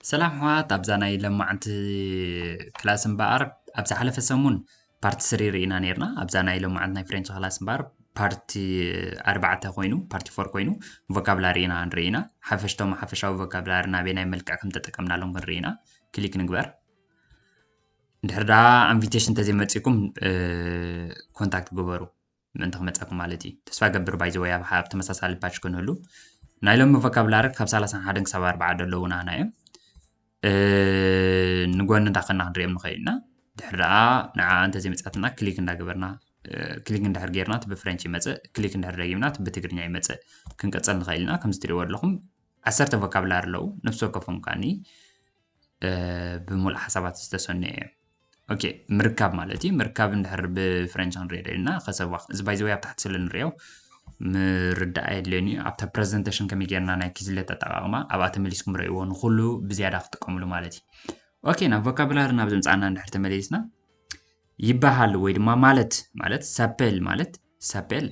ሰላም ሕዋት ኣብዛ ናይ ለማዓንቲ ክላስ እምበኣር ኣብ ዝሓለፈ ሰሙን ፓርቲ ስሪ ርኢና ነርና ኣብዛ ናይ ለማዓንቲ ናይ ፍሬንች ክላስ እምበኣር ፓርቲ ኣርባዕተ ኮይኑ ፓርቲ ፎር ኮይኑ ቮካብላሪ ኢና ንርኢ ኢና ሓፈሽቶም ሓፈሻዊ ቮካብላሪ ናበይ ናይ መልክዕ ከም ተጠቀምናሎም ክንርኢ ኢና ክሊክ ንግበር እንድሕር ደኣ ኣንቪቴሽን እንተዘይመጺኩም ኮንታክት ግበሩ ምእንቲ ክመጻኩም ማለት እዩ ተስፋ ገብር ባይዘወይ ኣብ ኣብ ተመሳሳሊ ባች ክንህሉ ናይ ሎሚ ቮካብላሪ ካብ 31 ክሳብ 4 ዘለዉና ኢና እዮም ንጎኒ እንዳኸና ክንሪኦም ንኽእል ኢና ድሕሪ ደኣ ንዓ እንተዘይመፅኣትና ክሊክ እንዳገበርና ክሊክ እንድሕር ጌርና እቲ ብፍረንች ይመፅእ ክሊክ እንድሕር ደጊምና እቲ ብትግርኛ ይመፅእ ክንቀፅል ንኽእል ኢና ከምዚ ትሪእዎ ኣለኹም ዓሰርተ ቮካብላሪ ኣለዉ ነፍሲ ወከፎም ከዓኒ ብምሉእ ሓሳባት ዝተሰነዩ እዮም ኦኬ ምርካብ ማለት እዩ ምርካብ እንድሕር ብፍረንች ክንሪኦ ደልና ከሰብ እዚ ባይዘወይ ኣብ ታሕቲ ስለ ንሪኦ ምርዳእ የድልዮን እዩ ኣብታ ፕረዘንቴሽን ከመይ ጌርና ናይ ኪዝለት ኣጠቃቕማ ኣብኣ ተመሊስኩም ረእይዎ ንኩሉ ብዝያዳ ክጥቀምሉ ማለት እዩ ኦኬ ናብ ቮካብላሪ ናብ ዘምፃእና እንድሕር ተመሊስና ይበሃል ወይ ድማ ማለት ማለት ሰፔል ማለት ሰፔል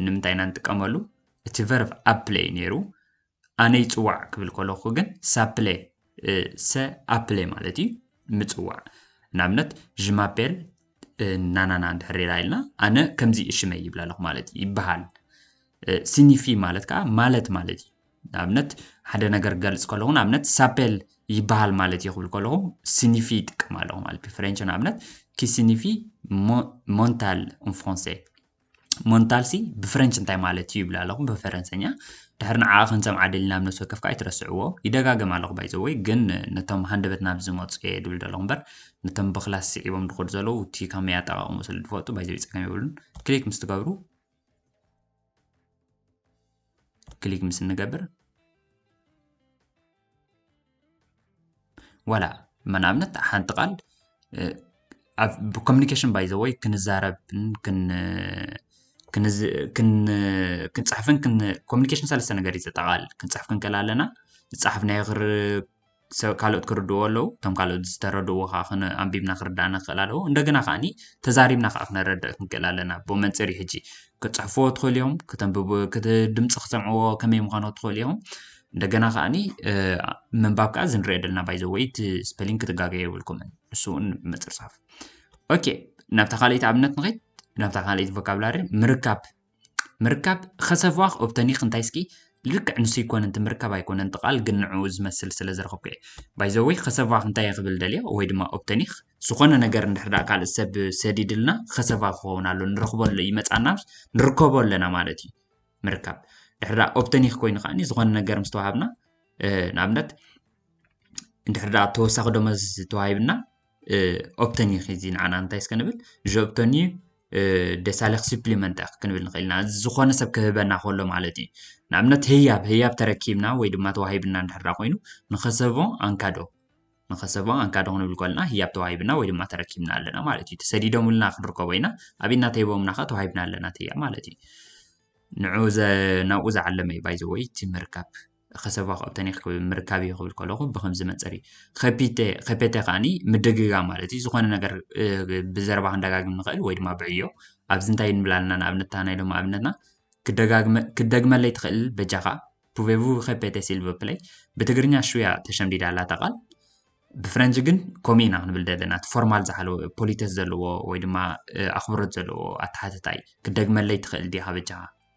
ንምንታይ ኢና ንጥቀመሉ እቲ ቨርብ ኣብ ፕለይ ነይሩ ኣነ ይጽዋዕ ክብል ከለኹ ግን ሳፕለ ሰ ኣፕለ ማለት እዩ ምጽዋዕ ንኣብነት ዥማፔል ናናና እንድሕር ኢላ ኢልና ኣነ ከምዚ እሽመይ ይብላ ኣለኹ ማለት እዩ ይበሃል ሲኒፊ ማለት ከዓ ማለት ማለት እዩ ንኣብነት ሓደ ነገር ገልፅ ከለኹ ንኣብነት ሳፔል ይበሃል ማለት እዩ ክብል ከለኹ ሲኒፊ ይጥቀም ኣለኹ ማለት ብፍሬንች ንኣብነት ኪሲኒፊ ሞንታል ን ፍራንሴ ሞንታልሲ ብፍረንች እንታይ ማለት እዩ ይብል ኣለኹ ብፈረንሰኛ ድሕሪ ንዓኣ ክንሰምዓ ደሊና ኣብ ነፍሲ ወከፍ ከዓ ኣይትረስዕዎ ይደጋገም ኣለኹ ባይዘወይ ግን ነቶም ሃንደበት ናብ ዝመፁ እየ ድብል ዘለኹ እምበር ነቶም ብክላስ ስዒቦም ድኸዱ ዘለዉ እቲ ከመይ ኣጠቃቅሙ ስለ ድፈልጡ ባይዘወይ ፀገም የብሉን ክሊክ ምስ ትገብሩ ክሊክ ምስ እንገብር ዋላ ንኣብነት ሓንቲ ቃል ብኮሚኒኬሽን ባይ ዘወይ ክንዛረብን ክንፅሕፍን ኮሚኒኬሽን ሰለስተ ነገር እዩ ዘጠቓልል ክንፅሕፍ ክንክእል ኣለና ዝፀሓፍናዮ ሰብ ካልኦት ክርድእዎ ኣለዉ እቶም ካልኦት ዝተረድእዎ ከኣ ክነ ኣንቢብና ክርዳኣና ክኽእል ኣለዎ እንደገና ከኣኒ ተዛሪብና ከኣ ክነረድእ ክንክእል ኣለና ብ መንጽር እዩ ሕጂ ክጽሕፍዎ ትኽእሉ እዮም ክተንብቡ ክት ድምጺ ክሰምዕዎ ከመይ ምዃኑ ትኽእሉ እዮም እንደገና ከኣኒ ምንባብ ከኣ እዚ ንሪኦ ደለና ባይ ዘ ወይ እቲ ስፐሊንግ ክትጋገዩ የብልኩምን ንሱ እውን ምጽርጻፍ ኦኬ ናብታ ካልኣይቲ ኣብነት ንኸይድ ናብታ ካልኣይቲ ቮካብላሪ ምርካብ ምርካብ ኸሰፍዋኽ ኦብተኒኽ እንታይ ስኪ ልክዕ ንሱ ይኮነ እቲ ምርካብ ኣይኮነ እቲ ቃል ግን ንዕኡ ዝመስል ስለ ዘረኸብኩ እየ ባይዘወይ ኸሰፍዋኽ እንታይ እየ ክብል ደልየ ወይ ድማ ኦብተኒኽ ዝኾነ ነገር እንድሕር ደኣ ካልእ ሰብ ሰዲድልና ኸሰፋ ክኸውን ኣሎ ንረኽቦ ኣሎ ይመጻና ንርከቦ ኣለና ማለት እዩ ምርካብ ድሕር ደኣ ኦብተኒኽ ኮይኑ ከዓኒ ዝኾነ ነገር ምስ ተዋሃብና ንኣብነት እንድሕር ደኣ ተወሳኺ ደሞዝ ተዋሂብና ኦብተንዩ ኸዚ ንዓና እንታይ እስከ ንብል ዥ ኦብተንዩ ደሳለኽ ስፕሊመንት ኣ ክንብል ንኽእል ኢና ዝኾነ ሰብ ክህበና ከሎ ማለት እዩ ንኣብነት ህያብ ህያብ ተረኪብና ወይ ድማ ተዋሂብና እንድሕራ ኮይኑ ንኸሰቦ ኣንካዶ ንኸሰቦ ኣንካዶ ክንብል ከለና ህያብ ተዋሂብና ወይ ድማ ተረኪብና ኣለና ማለት እዩ ተሰዲዶምልና ክንርከቦ ኢና ኣብ እናተሂቦምና ኸ ተዋሂብና ኣለና ትያ ማለት እዩ ንዑ ናብኡ ዝዓለመ እዩ ባይዘወይ እቲ ምርካብ ከሰባ ክቕተኒ ክብል ምርካብ እዩ ክብል ከለኹ ብከምዚ መንፅር እዩ ከፒቴ ከፔቴ ከዓኒ ምድግጋም ማለት እዩ ዝኾነ ነገር እ፣ ብዘረባ ክንደጋግም ንኽእል ወይ ድማ ብዕዮ ኣብዚ እንታይ ንብል ኣለና ንኣብነት እታ ናይ ሎሚ ኣብነትና ክደጋግመ- ክትደግመለይ ትኽእል በጃኻ ፑቬቡ ከፔቴ ሲልቨ ፕለይ ብትግርኛ ሽያ ተሸምዲዳ ኣላ እታ ቃል ብፍረንጂ ግን ከምኡ ኢና ክንብል ዘለና እቲ ፎርማል ዝሓለወ ፖሊተስ ዘለዎ ወይ ድማ እ፣ ኣኽብሮት ዘለዎ ኣተሓትታ እዩ ክደግመለይ ትኽእል ዲኻ በጃኻ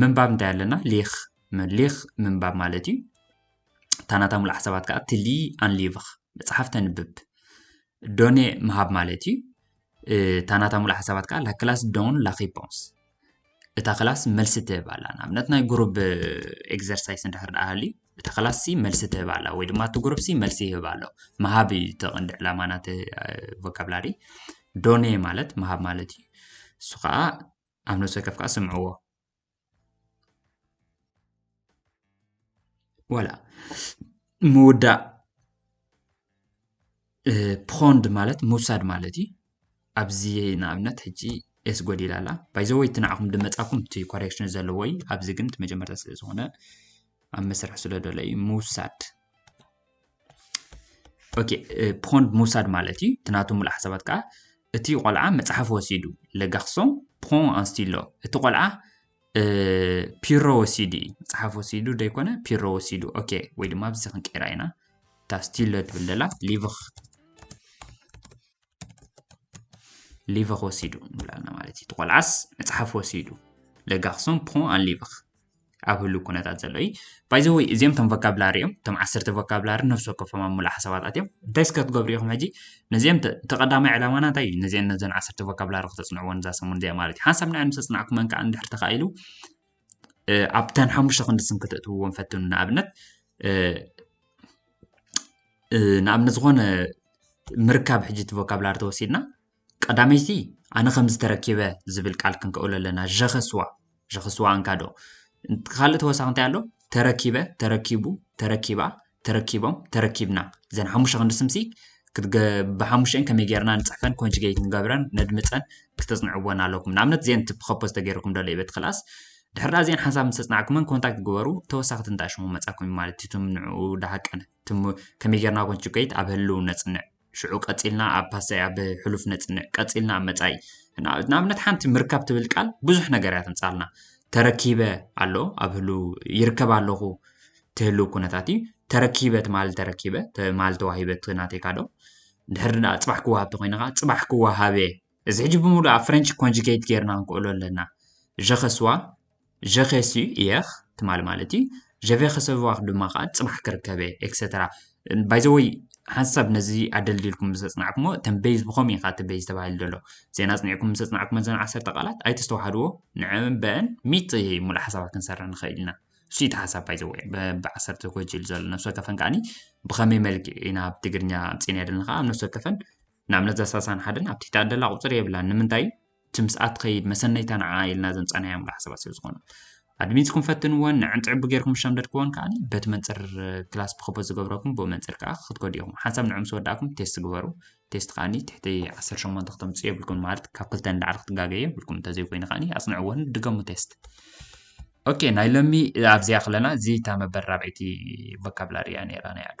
ምንባብ እንታይ ኣለና ሌኽ ሌኽ ምንባብ ማለት እዩ እታ ናታ ሙሉእ ሓሳባት ከዓ ትሊ ኣንሊቭኽ መፅሓፍ ተንብብ ዶኔ ምሃብ ማለት እዩ እታ ናታ ሙሉእ ሓሳባት ከዓ ላክላስ ዶን ላኪፖንስ እታ ክላስ መልሲ ትህብ ኣላ ንኣብነት ናይ ጉሩብ ኤግዘርሳይስ እንድሕር ደኣ ሃልዩ እታ ክላስ ሲ መልሲ ትህብ ኣላ ወይ ድማ እቲ ጉሩብ ሲ መልሲ ይህብ ኣሎ ምሃብ እዩ እቲ ቀንዲ ዕላማ ናቲ ቮካብላሪ ዶኔ ማለት ምሃብ ማለት እዩ እሱ ከዓ ኣብ ነብሲ ወከፍ ከኣ ስምዕዎ ወላ ምውዳእ ፖንድ ማለት ምውሳድ ማለት እዩ ኣብዚ ንኣብነት ሕጂ ኤስ ጎዲላ ኣላ ባይዘወይ እቲ ንዓኹም ድመፃኩም እቲ ኮሬክሽን ዘለዎ እዩ ኣብዚ ግን እቲ መጀመርታ ስለ ዝኾነ ኣብ መስርሕ ስለ ደሎ እዩ ምውሳድ ኦኬ ፖንድ ምውሳድ ማለት እዩ እቲ ናቱ ሙሉእ ሓሳባት ከዓ እቲ ቆልዓ መፅሓፍ ወሲዱ ለጋክሶም ፖን ኣንስቲሎ እቲ ቆልዓ ፒሮ ወሲዱ እዩ መፅሓፍ ወሲዱ ዘይኮነ ፒሮ ወሲዱ ኦኬ ወይ ድማ ኣብዚ ክንቀይራ ኢና እታ ስቲሎ ትብል ዘላ ሊቭኽ ሊቭኽ ወሲዱ ንብላልና ማለት እዩ እቲ ቆልዓስ መፅሓፍ ወሲዱ ለጋክሶም ፖን ኣን ሊቭኽ ኣብ ህሉ ኩነታት ዘሎ እዩ ባይ ዘ ወይ እዚኦም ቶም ቮካብላሪ እዮም ቶም ዓሰርተ ቮካብላሪ ነፍሲ ወከፎም ኣብ ሙሉእ ሓሳባታት እዮም እንታይ እስከ ክትገብሩ ኢኹም ሕጂ ነዚኦም እቲ ቀዳማይ ዕላማና እንታይ እዩ ነዚአን ነዘን ዓሰርተ ቮካብላሪ ክተፅንዕዎን እዛ ሰሙን እዚኣ ማለት እዩ ሓንሳብ ንዐን ምስ ኣፅናዕኩመን ከዓ እንድሕር ተኻኢሉ ኣብተን ሓሙሽተ ክንዲ ስም ክተእትውዎም ፈትኑ ንኣብነት ንኣብነት ዝኾነ ምርካብ ሕጂ እቲ ቮካብላሪ ተወሲድና ቀዳመይቲ ኣነ ከምዚ ተረኪበ ዝብል ቃል ክንከእሎ ኣለና ዠኸስዋ ዠኸስዋ ኣንካዶ ካልእ ተወሳኺ እንታይ ኣሎ ተረኪበ ተረኪቡ ተረኪባ ተረኪቦም ተረኪብና እዘን ሓሙሽተ ክንዲ ስምሲ ብሓሙሽተን ከመይ ጌርና ንፅሕፈን ኮንጅጌት ንገብረን ነድምፀን ክተፅንዕዎን ኣለኩም ንኣብነት እዚአን ፕኸፖዝ ተገይርኩም ደሎ ይበት ክላስ ድሕሪ ዳኣ እዚአን ሓንሳብ ምሰፅናዕኩመን ኮንታክት ግበሩ ተወሳኺ ትንታሽሙ መፃኩም ማለት እዩ ትምንዑ ዳሃቀነ ከመይ ጌርና ኮንጅጌት ኣብ ህልው ነፅንዕ ሽዑ ቀጺልና ኣብ ፓሰይ ኣብ ሕሉፍ ነጽንዕ ቀጺልና ኣብ መጻኢ ንኣብነት ሓንቲ ምርካብ ትብል ቃል ብዙሕ ነገር እያ ተምጻልና ተረኪበ ኣሎ ኣብ ህሉ ይርከብ ኣለኹ ትህሉ ኩነታት እዩ ተረኪበ ትማል ተረኪበ ትማል ተዋሂበ ናተይካዶ ድሕሪ ድኣ ፅባሕ ክወሃብ ተኮይንኻ ፅባሕ ክወሃበ እዚ ሕጂ ብምሉእ ኣብ ፍረንች ኮንጁጌት ጌርና ክንክእሎ ኣለና። ዠኸስዋ ዠኸሱ እየኽ ትማሊ ማለት እዩ ዠቬኸሰዋኽ ድማ ከዓ ፅባሕ ክርከብ እየ ኤክሰተራ ባይ ዘ ወይ ሓንሳብ ነዚ ኣደልዲልኩም ምስ ኣፅናዕኩሞ እተን ቤዝ ብኸም ኢኻ እቲ ቤዝ ተባሂሉ ዘሎ ዜና ኣፅኒዕኩም ምስ ኣፅናዕኩሞ ዘን ዓሰርተ ቃላት ኣይተስተዋሓድዎ ንዕን በአን ሚጥ ሙሉእ ሓሳባት ክንሰርሕ ንኽእል ኢና እሱ እቲ ሓሳብ ባይ ዘ ወይ ብዓሰርተ ጎጅል ዘሎ ነፍሲ ወከፈን ከዓኒ ብኸመይ መልክዕ ኢና ኣብ ትግርኛ ኣምፂእና ደለና ከዓ ኣብ ነፍሲ ወከፈን ንኣብነት እዛ ሳሳን ሓደን ኣብቲ ተኣደላ ቁፅሪ የብላን ንምንታይ እቲ ምስኣ ትኸይድ መሰነይታ ንዓ ኢልና ዘምፃናዮ ምላ ሓሳባት ስለ ዝኾኑ ኣድሚንስኩም ፈትንዎን ንዕንፅዕቢ ጌርኩም ዝሸምደድክዎን ከዓ በቲ መንፅር ክላስ ብኸቦት ዝገብረኩም ብኡ መንፅር ከዓ ክትከዱ ኢኹም ሓንሳብ ንዑ ምስ ወዳእኩም ቴስት ግበሩ ቴስት ከዓኒ ትሕቲ 18 ክተምፅኡ የብልኩም ማለት ካብ ክልተ ንላዕሊ ክትጋገዩ የብልኩም እንተዘይኮይኑ ከዓኒ ኣፅንዕዎን ድገሙ ቴስት ኦኬ ናይ ሎሚ ኣብዚኣ ክለና እዚታ መበል ራብዐይቲ ቮካብላሪ እያ ነይራ ናይ ኣዱ